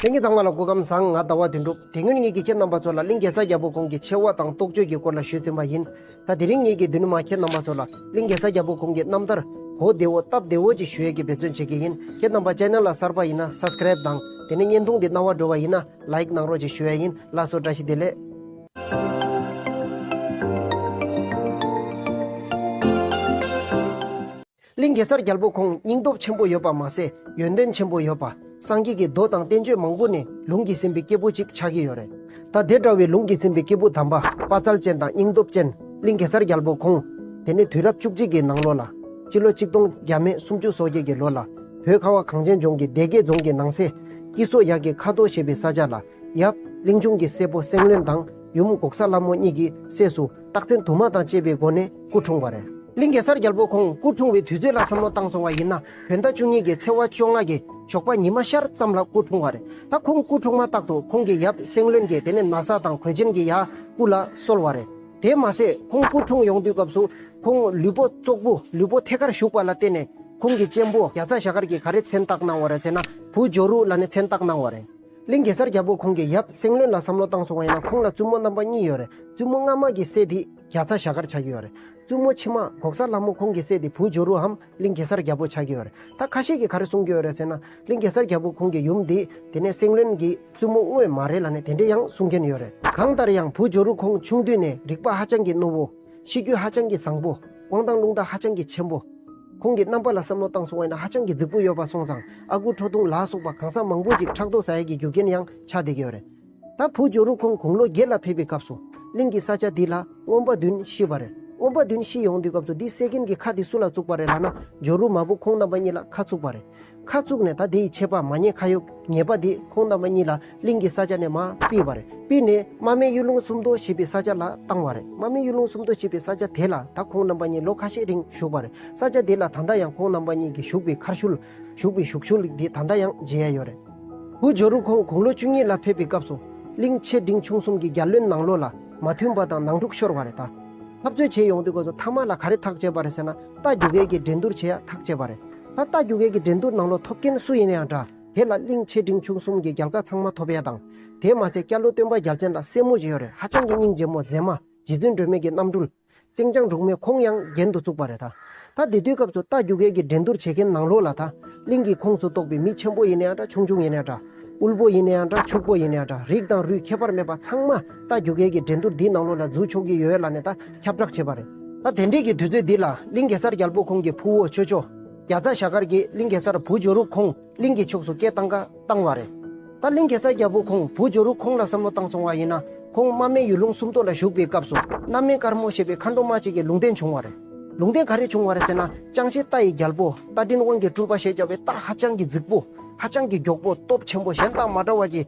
ལྷན་སྐྱེས་གཙང་མ་ལ་སྐུ་ཁམས་བཟང་ང་ཟླ་བ་བདུན་འགྲུབ་དེ་སྔོན་ངེད་ཀྱི་ཁྱེད་རྣམ་པ་ཚོ་ལ་གླིང་གེ་སར་རྒྱལ་པོ་ཁོང་གི་ཆེ་བ་དང་རྟོགས་བརྗོད་ཀྱི་སྐོར་ལ་ཞུས་ཟིན་པ་ཡིན། ད་དེ་རིང་ངེད་ཀྱིས་བདུད་ནུ་མ་ཁྱེད་རྣམ་པ་ཚོ་ལ་གླིང་གེ་སར་རྒྱལ་པོ་ཁོང་གི་རྣམ་ཐར། གོ་བདེ་བོ་སྟབས་བདེ་བོ་ཅིག་ཞུ་ཡས་ཀྱི་འབད་བརྩོན་བྱེད་ཀྱི་ཡིན་ཁྱེད་རྣམ་པ channel ལ་གསར་པ་ཡིན་ན subscribe དང་དེ་ནས་བརྙན་ཐུང་འདི་རྣ་བར་འགྲོ་བ་ཡིན་ན like གནང་རོགས་ཅིག་ཞུ་ཡས་ཡིན་ལགས་སོ་བཀྲ་ཤིས་བདེ་ལེགས། གླིང་གེ་སར་རྒྱལ་པོ་ཁོང་སྙིང་སྟོབས་ཆེན་པོ་ཡོད་པ་མ་ཟད་ཡོན་ཏན་ཆེན་པོ་ཡོད་པ། སངས་རྒྱས་ཀྱི་མདོ་དང་བསྟན་བཅོས་མང་པོ་ནས་ལུང་གིས་ཟིན་པའི་སྐྱེས་བུ་ཅིག་ཆགས་ཀྱི་ཡོད་རེད། ད་དེ་འདྲ་བའི་ལུང་གིས་ཟིན་པའི་སྐྱེས་བུ་དམ་པ་དཔའ་རྩལ་ཅན་དང་སྙིང་སྟོབས་ཅན་གླིང་གེ་སར་རྒྱལ་པོ་ཁོང། དེ་ནས་དུས་རབས་བཅུ་གཅིག་གི་ནང་ལོ་ལ། སྤྱི་ལོ་གཅིག་སྟོང་བརྒྱ་མེད་སུམ་ཅུ་སོ་བརྒྱད་ཀྱི་ལོ་ལ། བོད་ཁ་བ་གངས་ཅན་ལྗོངས་ཀྱི་སྡེ་དགེ་རྫོང་གི་ནང་སའི། སྐྱིད་སོ་ཡག་གི་ཁ་དོག་ཞེས་པའི་ས་ཆ་ལ། ཡབ། གླིང་ཆུང་གི་སྲས་པོ་སེང་བློན་དང་ཡུམ་འགོག་ས་ལྷ་མོ་གཉིས་ཀྱི་སྲས་སུ། རྟགས་མཚན་དུ་མ་དང་བཅས་པའི་སྒོ་ནས་སྐུ་འཁྲུངས་པ་རེད། གླིང་གེ་སར་རྒྱལ་པོ་ཁོང་སྐུ་འཁྲུངས་བའི་དུས་ཚོད་ལ་བསམ་བློ་བཏང་སོང་བ་ཡིན་ན་བོད་ཟླ་བཅུ་གཉིས་ཀྱི་ཚེས་བ་བཅོ་ལྔ་གི་ཞོགས་པ་ཉི་མ་ཤར་ཙམ་ལ་སྐུ་འཁྲུངས་བ་རེད། ད་ཁོང་སྐུ་འཁྲུངས་མ་ཐག་ཏུ་ཁོང་གི་ཡབ་སེང་བློན་གྱིས་དེ་ནས་ན་བཟའ་དང་གོས་ཆེན་གྱི་ཡ་སྐུ་ལ་གསོལ་བ་རེད། དེས་མ་ཟད་ཁོང་སྐུ་འཁྲུངས་ཡོང་དུས་སྐབས་སུ་ཁོང་ལུས་པོ་ཙོག་པུ་ལུས་པོ་ཐད་ཀར་བཞུགས་པ་ལ་བརྟེན་ནས་ཁོང་གི་གཅེན་པོ་རྒྱ་ཚ་ཞྭ་དཀར་གྱིས་ག་རེ་མཚན་བཏགས་གནང་བ་རེད་ཟེར་ན་བུ་ཇོ་རུ་ལ་ནི་མཚན་བཏགས་གནང་བ་རེད། གླིང་གེ་སར་རྒྱལ་པོ་ཁོང་གི་ཡབ་སེང་བློན་ལ་བསམ་བློ་བཏང་སོང་བ་ཡིན་ན་ཁོང་ལ་བཙུན་མོ་རྣམ་པ་གཉིས་ཡོད་རེད་བཙུན་མོ་སྔ་མ་གི་སྲས་དེས་རྒྱ་ཚ་ཞྭ་དཀར་ཆགས་ཀྱི་ཡོད་རེད་བཙུན་མོ་ཕྱི་མ་གོག་ས་ལྷ་མོ་ཁོང་གི་སྲས་དེ་བུ་ཇོ་རུའམ་གླིང་གེ་སར་རྒྱལ་པོ་ཆགས་ཀྱི་ཡོད་རེད་ད་ཁ་ཤས་ཀྱི་ག་རེ་གསུང་གི་ཡོད་རེད་ཟེར་ན་གླིང་གེ་སར་རྒྱལ་པོ་ཁོང་གི་ཡུམ་དེ་དེ་ནས་སེང་བློན་གྱི་བཙུན་མོ་དངོས་མ་རེད་ལ་ནི་དེ་འདྲས་ཡང་གསུང་མཁན་ཡོད་རེད། གང་ལྟར་ཡང་བུ་ཇོ་རུ་ཁོང་ཆུང་དུས་ནས་རིག་པ་ཧ་ཅང་གི་རྣོ་བོ། གཤིས་རྒྱུད་ཧ་ཅང་གི་བཟང་པོ། དབང་ཐང་རླུང་རྟ་ཧ་ཅང་གི་ཆེན་པོ། ཁོང་གི་རྣམ་པ་ལ་བསམ་བློ་བཏང་སོང་བས་ན་ཧ་ཅང་གི་རྫིག་པོ་ཡོད་པ་སོང་ཙང་ཨ་ཁུ་ཁྲོ་ཐུང་ལགས་སོགས་པ་གང་ཟག་མང་པོ་ཅིག་ཕྲག་དོག་ཟ་ཡ་གི་རྒྱུ་རྐྱེན་ཡང་ཆགས་བསྡད་ཀྱི་ཡོད་རེད། ད་བུ་ཇོ་རུ་ཁོང་དགུང་ལོ་བརྒྱད་ལ་ཕེབས་པའི་སྐབས་སུ། གླིང་གི་ས་ཆ་འདི་ལ་རྔོན་པ་བདུན་ཤི་བ་རེད། རྔོན་པ་བདུན་ཤི་ཡོང་དུས་སྐབས་སུ་འདི་བསད་མཁན་གྱི་ཁ་དེ་སུ་ལ་བཙུགས་པ་རེད་ལ་ན་ཇོ་རུ་མ་བུ་ཁོང་རྣམ་པ་གཉིས་ལ་ཁ་ཚུགས་པ་རེད། ཁ་བཙུགས་ནས་ད་དེ་ཡི་ཆད་པ་མ་ཉེས་ཁ་ཡོག་ངེས་པ་དེས་ཁོང་རྣམ་པ་གཉིས་ལ་གླིང་གི་ས་ཆ་ནས་མ་སྤིལ་བ་རེད་སྤིལ་ནས་རྨ་མེ་གཡུ་ལུང་སུམ་མདོ་ཞེས་པའི་ས་ཆ་ལ་བཏང་བ་རེད་རྨ་མེ་གཡུ་ལུང་སུམ་མདོ་ཞེས་པའི་ས་ཆ་དེ་ལ་ད་ཁོང་རྣམ་པ་གཉིས་ལོ་ཁ་ཤས་རིང་བཞུགས་པ་རེད་ས་ཆ་དེ་ལ་ད་ལྟ་ཡང་ཁོང་རྣམ་པ་གཉིས་ཀྱི་བཞུགས་པའི་མཁར་ཤུལ། བཞུགས་པའི་བཞུགས་ཤུལ་དེ་ད་ལྟ་ཡང་མཇལ་ཡས་ཡོད་རེད། ཧུའུ་ཇོ་རུ་ཁོང་དགུང་ལོ་བཅུ་གཉིས་ལ་ཕེབས་པའི་སྐབས་སུ། གླིང་ཆེ་འབྲིང་ཆུང་གསུམ་གྱི་རྒྱ་བློན་ནང་ལོ་ལ་མ་མཐུན་པ་དང་ནང་འཁྲུག་ཤོར་བ་རེད་ད། འཐབ་རྩོད་བྱེད་ཡོང་དུས་སྒོས་སུ་མཐའ་མ་ལ་ག་རེ་ཐག་བཅད་པ་རེད་ཟེར་ན་རྟ་རྒྱུག་མཁན་གྱིས་འགྲན་བསྡུར་བྱེད་ཡ་ཐག་བཅད་པ་རེད། ད་ལྟ་རྒྱུགས་མཁན་གྱི་འགྲན་བསྡུར་ནང་བློ་ཐོབ་མཁན་སུ་ཡིན་ན་ཡང་འདྲ། དེ་ལ་གླིང་ཆེ་འབྲིང་ཆུང་གསུམ་གྱི་རྒྱལ་ཁ་ཚང་མ་ཐོབ་ཡས་དང། དེས་མ་ཟད་སྐྱ་ལོའི་སྟོན་པ་རྒྱལ་མཚན་དང་སྲས་མོ་བཞི་ཡོད་རེད་ཧ་ཅང་གི་སྙིང་རྗེ་མོ་མཛེས་མ་རྗེ་བཙུན་སྒྲོལ་མས་ཀྱི་རྣམ་སྤྲུལ། སེང་ལྗང་འབྲུག་མོས་ཁོང་ཡང་རྒྱན་དུ་བཙུགས་པ་རེད་ད། ད་དེ་དུས་སྐབས་སུ་རྟ་རྒྱུགས་མཁན་གྱི་འགྲན་བསྡུར་བྱེད་མཁན་ནང་བློ་ལ་ད་གླིང་གི་ཁོངས་སུ་གཏོགས་པའི་མི་ཆེན་པོ་ཡིན་ན་ཡང་འདྲ་ཆུང་ཆུང་ཡིན་ན་ཡང་འདྲ། དབུལ་པོ་ཡིན་ན་ཡང་འདྲ་ཕྱུག་པོ་ཡིན་ན་ཡང་འདྲ་རིགས་དང་རུས་ཁྱད་པར་མེད་པ་ཚང་མ་རྟ་རྒྱུགས་མཁན་གྱི་འགྲན་བསྡུར་འདིའི་ནང་བློ་ལ་འཛུལ་ཆོག་གི་ཡོད་ལ་ནས་ད་ཁྱབ་བསྒྲགས་བྱས་པ་རེད། ད་དེ་འབྲེལ་གྱི་དུས་ཚོད་འདི་ལ་གླིང་གེ་སར་རྒྱལ་པོ་ཁོང་གི་ཕུ་བོ་ཆོས་མཆོག་རྒྱ་བཟའ་ཞྭ་དཀར་གྱིས་གླིང་གེ་སར་བུ་ཇོ་རུ་ཁོང་གླིང་གི་ཕྱོགས་སུ་སྐད་བཏང་ཁ་བཏང་བ་རེད། ད་གླིང་གེ་སར་རྒྱལ་པོ་ཁོང་བུ་ཇོ་རུ་ཁོང་ལ་བསམ་བློ་བཏང་སོང་བ་ཡིན་ན་ཁོང་རྨ་སྨད་ཡུལ་ལུང་སུམ་མདོ་ལ་བཞུགས་པའི་སྐབས་སུ་གནའ་སྨན་དཀར་མོ་ཞེས་པའི་མཁའ་འགྲོ་མ་གཅིག་གི་ལུང་བསྟན་བྱུང་བ་རེད། ལུང་བསྟན་ག་རེ་བྱུང་བ་རེད་ཟེར་ན་ཅང་ཤེས་རྟ་ཡི་རྒྱལ་པོ་རྟ་མགྲིན་དབང་གི་སྤྲུལ་པ་ཞེས་བྱ་བའི་རྟ་ཧ་ཅང་གི་རྫིག་པོ་ཧ་ཅང་གི་མགྱོགས་པོ་སྟོབས་ཆེན་པོ་གཞན་དང་མ་འདྲ་བ་ཀྱི་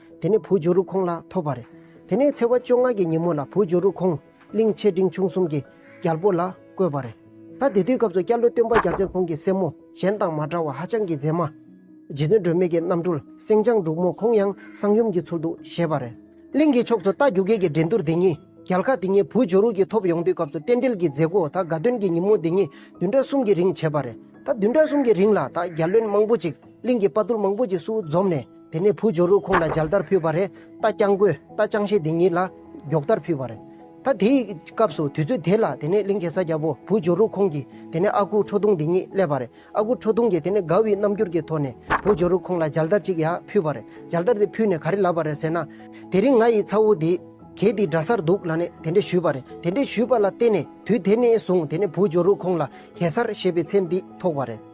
དེ་ནས་བུ་ཇོ་རུ་ཁོང་ལ་ཐོབ་པ་རེད། དེ་ནས་ཚེ་བ་བཅོ་ལྔ་གྱི་ཉིན་མོ་ལ་བུ་ཇོ་རུ་ཁོང་གླིང་ཆེ་འབྲིང་ཆུང་གསུམ་གྱི་རྒྱལ་པོ་ལ་བསྐོས་པ་རེད། ད་དེ་དུས་སྐབས་སུ་སྐྱ་ལོ་སྟོན་པ་རྒྱ་མཚན་ཁོང་གི་སྲས་མོ་གཞན་དང་མ་འདྲ་བ་ཧ་ཅང་གི་མཛེས་མ། རྗེ་བཙུན་སྒྲོལ་མེད་ཀྱི་རྣམ་སྤྲུལ་སེང་ལྗང་འབྲུག་མོ་ཁོང་ཡང་གསང་ཡུམ་གྱི་ཚུལ་དུ་བཞེས་པ་རེད། གླིང་གི་ཕྱོགས་སུ་རྟ་རྒྱུག་མཁན་གྱི་འགྲན་བསྡུར་དེ་ཉིད་རྒྱལ་ཁ་དེ་ཉིད་བུ་ཇོ་རུ་གྱིས་ཐོབ་ཡོང་དུས་སྐབས་སུ་རྟེན་འབྲེལ་གྱི་མཛད་སྒོ་ད་དགའ་སྟོན་གྱི་ཉིན་མོ་དེ་ཉིད་བདུན་ཕྲག་གསུམ་གྱི་རིང་བྱས་པ་རེད། ད་བདུན་ཕྲག་གསུམ་གྱི་རིང་ལ་ད་རྒྱ་བློན་མང་པོ་ཅིག་གླིང་གི་དཔའ་རྟུལ་མང་པོ་ཅིག་སུ་འཛོམས་ནས། དེ་ནས་བུ་ཇོ་རུ་ཁོང་ལ་འཇལ་དར་ཕུལ་བ་རེད་རྟ་རྐྱང་རྒོད་རྟ་རྐྱང་ཤེས་དེ་གཉིས་ལ་སྒྱོགས་དར་ཕུལ་བ་རེད། ད་དེའི་སྐབས་སུ་དུས་ཚོད་དེ་ལ་དེ་ནས་གླིང་གེ་སར་རྒྱལ་པོ་བུ་ཇོ་རུ་ཁོང་གིས་དེ་ནས་ཨ་ཁུ་ཁྲོ་ཐུང་དེ་གཉིས་སླེབས་པ་རེད་ཨ་ཁུ་ཁྲོ་ཐུང་གིས་དེ་ནས་དགའ་བའི་རྣམ་འགྱུར་གྱི་ཐོག་ནས་བུ་ཇོ་རུ་ཁོང་ལ་འཇལ་དར་གཅིག་ཡ་ཕུལ་བ་རེད་འཇལ་དར་དེ་ཕུལ་ནས་ག་རེ་ལབ་པ་རེད་ཟེར་ན། དེ་རིང་ང་ཡི་ཚ་བོ་དེ་གས་དེ་འདྲ་སར་འདུག་ལ་ནས་དེ་འདྲས་ཞུས་པ་རེད་དེ་འདྲས་ཞུས་པ་ལ་བརྟེན་ནས་དུས་དེ་ནས་བཟུང་དེ་ནས་བུ་ཇོ་རུ་ཁོང་ལ་གེ་སར་ཞེས་པའི་མཚན་དེ་ཐོགས་པ་རེད།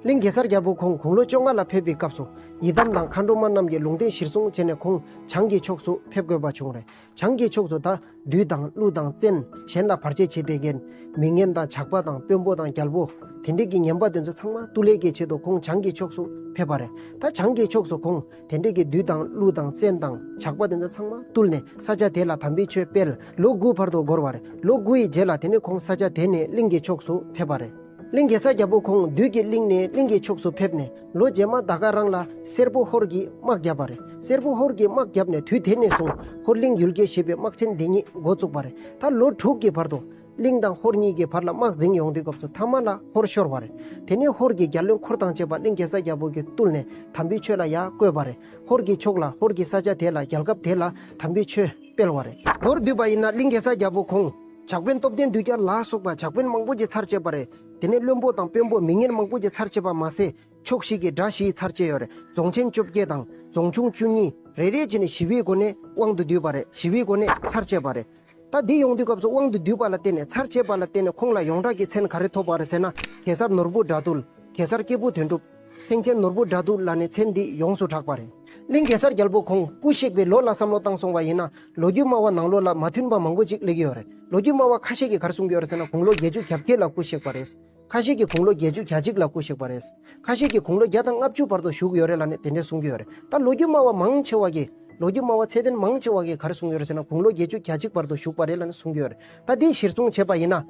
གླིང་གེ་སར་རྒྱལ་པོ་ཁོང་དགུང་ལོ་བཅོ་ལྔ་ལ་ཕེབས་པའི་སྐབས་སུ་ཡི་དམ་དང་མཁའ་འགྲོ་མ་རྣམས་ཀྱིས་ལུང་བསྟན་གཞིར་བཟུང་བྱས་ནས་ཁོང་བྱང་གི་ཕྱོགས་སུ་ཕེབས་དགོས་པ་བྱུང། བྱང་གི་ཕྱོགས་སུ་ད་བདུད་དང་ཀླུ་དང་བཙན་གཞན་ལ་བར་ཆད་བྱེད་བདེ་རྒན། མི་ངན་དང་ཇག་པ་དང་དཔོན་པོ་དང་རྒྱལ་པོ། དེ་འབྲེལ་གྱི་ངན་པ་དེ་ཚོ་ཚང་མ་གཏུ་ལས་ཀྱི་ཆེད་དུ་ཁོང་བྱང་གི་ཕྱོགས་སུ་ཕེབས་པ་རེད། ད་བྱང་གི་ཕྱོགས་སུ་ཁོང་དེ་འབྲེལ་གྱི་བདུད་དང་ཀླུ་དང་བཙན་དང་ཇག་པ་དེ་ཚོ་ཚང་མ་གཏུལ་ནས་ས་ཆ་དེ་ལ་དམ་པའི་ཆོས་སྤེལ། ལོ་དགུའི་བར་དུ་འགོར་བ་རེད། ལོ་དགུ་ཡི་རྗེས་ལ་དེ་ནས་ཁོང་ས་ཆ་དེ་ནས་གླིང་གི་ཕྱོགས་སུ་ཕེབས་པ་རེད། གླིང་གེ་སར་རྒྱལ་པོ་ཁོང་བདུད་ཀྱི་གླིང་ནས་གླིང་གི་ཕྱོགས་སུ་ཕེབས་ནས་ལོ་རྗེས་མ་ད་ག་རང་ལ་སེར་པོ་ཧོར་གྱིས་དམག་བརྒྱབ་པ་རེད་སེར་པོ་ཧོར་གྱིས་དམག་བརྒྱབ་ནས་དུས་དེ་ནས་བཟུང་ཧོར་གླིང་ཡུལ་རྒྱལ་ཞེས་པའི་དམག་ཆེན་འདི་ཉིད་འགོ་བཙུགས་པ་རེད་ད་ལོ་དྲུག་གི་བར་དུ། གླིང་དང་ཧོར་གཉིས་ཀྱི་བར་ལ་དམག་འཛིང་ཡོང་དུས་སྐབས་སུ་ཐ་མ་ལ་ཧོར་ཤོར་བ་རེད་དེ་ནས་ཧོར་གྱི་རྒྱ་བློན་འཁོར་དང་བཅས་པ་གླིང་གེ་སར་རྒྱལ་པོ་གྱི་བཏུལ་ནས་དམ་པའི་ཆོས་ལ་ཡར་བསྐོས་པ་རེད་ཧོར་གྱི་ཕྱོགས་ལ་ཧོར་གྱི་ས་ཆ་དེ་ལ་རྒྱལ་ཁབ་དེ་ལ་དམ་པའི་ཆོས་སྤེལ་བ་རེད། མདོར་བསྡུས་པ་ཡིན་ན་གླིང་གེ་སར་རྒྱལ་པོ་ཁོང། ཇག་དཔོན་སྟོབས་ལྡན་དུས་སྐྱར་ལ་སོགས་པ་ཇག་དཔོན་མང་པོ་ཀྱི་ཚར་བཅད་པ་རེད། དེ་ནས་བློན་པོ་དང་དཔོན་པོ་མི་ངན་མང་པོ་ཀྱི་ཚར་བཅད་པ་མ་ཟད། ཕྱོགས་བཞི་གི་དགྲ་བཞི་ཡི་ཚར་བཅད་ཡོད་རེད་རྫོང་ཆེན་བཅོ་བརྒྱད་དང་རྫོང་ཆུང་བཅུ་གཉིས། རེ་རེ་བྱས་ནས་བཞི་བའི་སྒོ་ནས་དབང་དུ་བསྡུས་པ་རེད་བཞི་བའི་སྒོ་ནས་ཚར་བཅད་པ་རེད། ད་འདི་ཡོང་དུས་སྐབས་སུ་དབང་དུ་བསྡུས་པ་ལ་བརྟེན་ནས་ཚར་བཅད་པ་ལ་བརྟེན་ནས་ཁོང་ལ་ཡོངས་གྲགས་ཀྱི་མཚན་ག་རེ་ཐོབ་པ་རེད་ཟེར་ན་གེ་སར་ནོར་བུ་དགྲ་བཏུལ། གེ་སར་སྐྱེས་བུ་དོན་གྲུབ། སེང་ཆེན་ནོར་བུ་དགྲ་དུག་ལ་ནི་ཚེ་འདི་ཡོངས་སུ་གྲགས་པ་རེད། གླིང་གེ་སར་རྒྱལ་པོ་ཁོང་སྐུ་གཤེགས་པའི་ལོ་ལ་བསམ་བློ་བཏང་སོང་བ་ཡིན་ན་ལོ་རྒྱུས་སྨྲ་བ་ནང་ལོ་ལ་མ་མཐུན་པ་མང་པོ་ཅིག་གླེགས་ཀྱི་ཡོད་རེད་ལོ་རྒྱུས་སྨྲ་བ་ཁ་ཤས་ཀྱིས་གར་གསུང་གི་ཡོད་རེད་ཟེར་ན་དགུང་ལོ་བརྒྱད་ཅུ་གྱ་བརྒྱད་ལ་སྐུ་གཤེགས་པ་རེད། ཁ་ཤས་ཀྱིས་དགུང་ལོ་བརྒྱད་ཅུ་གྱ་གཅིག་ལ་སྐུ་གཤེགས་པ་རེད། ཁ་ཤས་ཀྱིས་དགུང་ལོ་བརྒྱ་དང་ལྔ་བཅུ་བར་དུ་བཞུགས་ཡོད་རེད་ལ་ནི་དེ་འདྲས་གསུང་གི་ཡོད་རེད་ད་ལོ་རྒྱུས་སྨྲ་བ་མང་ཆེ་བ་ཀྱིས་ལོ་རྒྱུས་སྨྲ་བ་ཚད་ལྡན་མང་ཆེ་བ་ཀྱིས་གར་གསུང་ཡོད་རེད་ཟེར་ན་དགུང་ལོ་བརྒྱད་ཅུ་གྱ་གཅིག་བར་དུ་བཞུགས་པ་རེད་ལ་ནི་གསུང་གི་ཡོད་རེད་ད་དེའི་གཞིར་བཟུང་བྱས་པ་ཡིན་ན།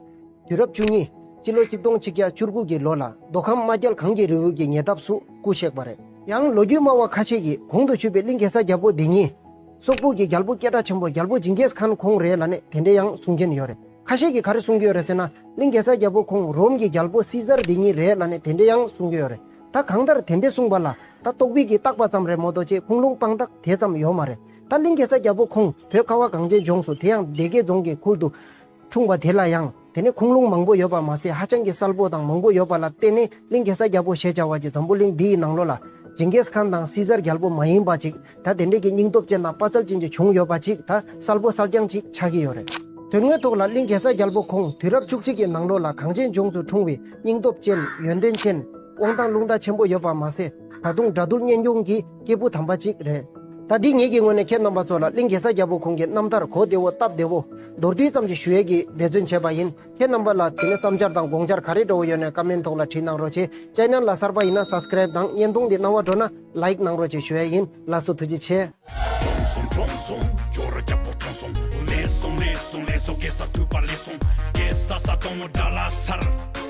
དུས་རབས་བཅུ་གཉིས། སྤྱི་ལོ་གཅིག་སྟོང་ཆིག་བརྒྱ་བཅུར་དགུ་གྱི་ལོ་ལ་མདོ་ཁམས་རྨ་རྒྱལ་གངས་ཀྱི་རི་བོའི་གྱི་ཉེ་འདབས་སུ་སྐུ་གཤེགས་པ་རེད། ཡང་ལོ་རྒྱུས་སྨྲ་བ་ཁ་ཤས་ཀྱིས་གོང་དུ་ཆུད་པའི་གླིང་གེ་སར་རྒྱལ་པོ་འདི་ཉིད། སོག་པོ་གྱི་རྒྱལ་པོ་སྐད་སྒྲ་ཆེན་པོ་རྒྱལ་པོ་ཇིང་གེས་ཁཱན་ཁོང་རེད་ལ་ནི་དེ་འདྲའི་ཡང་གསུང་མཁན་ཡོད་རེད། ཁ་ཤས་ཀྱིས་ག་རེ་གསུང་གི་ཡོད་རེད་ཟེར་ན། གླིང་གེ་སར་རྒྱལ་པོ་ཁོང་རོམ་གྱི་རྒྱལ་པོ་སི་ཟར་འདི་ཉིད་རེད་ལ་ནི་དེ་འདྲའི་ཡང་གསུང་གི་ཡོད་རེད། ད་གང་ལྟར་དེ་འདྲའི་གསུང་པ་ལ་ད་རྟོག་པིག་གིས་བཏགས་པ་ཙམ་རེད་མོ་རྡོ་རྗེ་ཁུངས་ལུང་དཔང་རྟགས་དེ་ཙམ་ཡོད་མ་རེད། ད་གླིང་གེ་སར་རྒྱལ་པོ་ཁོང་བོད་ཁ་བ་གངས་ཅན་ལྗོངས་སུ་དེ་ཡང་སྡེ་དགེ་རྫོང་གི་ཁུལ་དུ། འཁྲུངས་པ་དེ་ལ་ཡང་དེ་ནས་ཁུངས་ལུང་མང་པོ་ཡོད་པར་མ་ཟད་ཧ་ཅང་གི་གསལ་པོ་དང་མང་པོ་ཡོད་པ་ལ་བརྟེན་ནས་གླིང་གེ་སར་རྒྱལ་པོ་ཞེས་བྱ་བ་ཀྱི་འཛམ་བུ་གླིང་འདི་ཡི་ནང་ལོ་ལ། ཇིང་གེས་ཁཱན་དང་སི་ཛར་རྒྱལ་པོ་མ་ཡིན་པ་ཅིག་ད་དེ་འདྲས་ཀྱི་སྙིང་སྟོབས་ཅན་དང་དཔའ་རྩལ་ཅན་གྱི་བྱུང་ཡོད་པ་ཅིག་ད་གསལ་པོ་གསལ་རྐྱང་ཅིག་ཆགས་ཀྱི་ཡོད་རེད། དོན་དངོས་ཐོག་ལ་གླིང་གེ་སར་རྒྱལ་པོ་ཁོང་དུས་རབས་བཅུ་གཅིག་གི་ནང་ལོ་ལ་གངས་ཅན་ལྗོངས་སུ་འཁྲུངས་བའི་སྙིང་སྟོབས་ཅན་ཡོན་ཏན་ཅན། དབང་ཐང་ལུང་བརྡ་ཆེན་པོ་ཡོད་པར་མ་ཟད་ད་དུང་སྒྲ་སྡུར་སྙན་སྐྱོང་གི། སྐྱེས་བུ་དམ་པ་གཅིག་རེད། ད་འདི་ངེད་ཀྱི་ངོས་ནས་ཁྱེད་རྣམ་པ་ཚོ་ལ་གླིང་གེ་སར་རྒྱལ་པོ་ཁོང་གི་རྣམ་ཐར་གོ་བདེ་བོ་སྟབས་བདེ་བོ། མདོར་བསྡུས་ཙམ་གྱི་ཞུ་ཡས་ཀྱིས་འབད་བརྩོན་བྱས་པ་ཡིན། ཁྱེད་རྣམ་པ་ལ་དེ་ནས་བསམ་འཆར་དང་དགོངས་འཆར་ག་རེ་འགྲོ་བོ་ཡོད་ནས་ཀ་མེན་ཐོག་ལ་བྲིས་གནང་རོགས་བྱས། Channel ལ་གསར་པ་ཡིན་ན Subscribe དང་བརྙན་ཐུང་འདི་སྣང་བ་འགྲོ་ན Like གནང་རོགས་བྱས་ཞུ་ཡས་ཡིན་ལ་སོ་ཐུགས་རྗེ་ཆེ། བྱོན་སོང་བྱོན་སོང་ཇོ་རུ་རྒྱལ་པོ་བྱོན་སོང། ལེགས་སོང་ལེགས་སོང་ལེགས་སོ་གེ་སར་ཐུགས་པ་ལེགས་སོང། གེ་སར་ས་དོང་མོ་དགྲ་ལ་སར།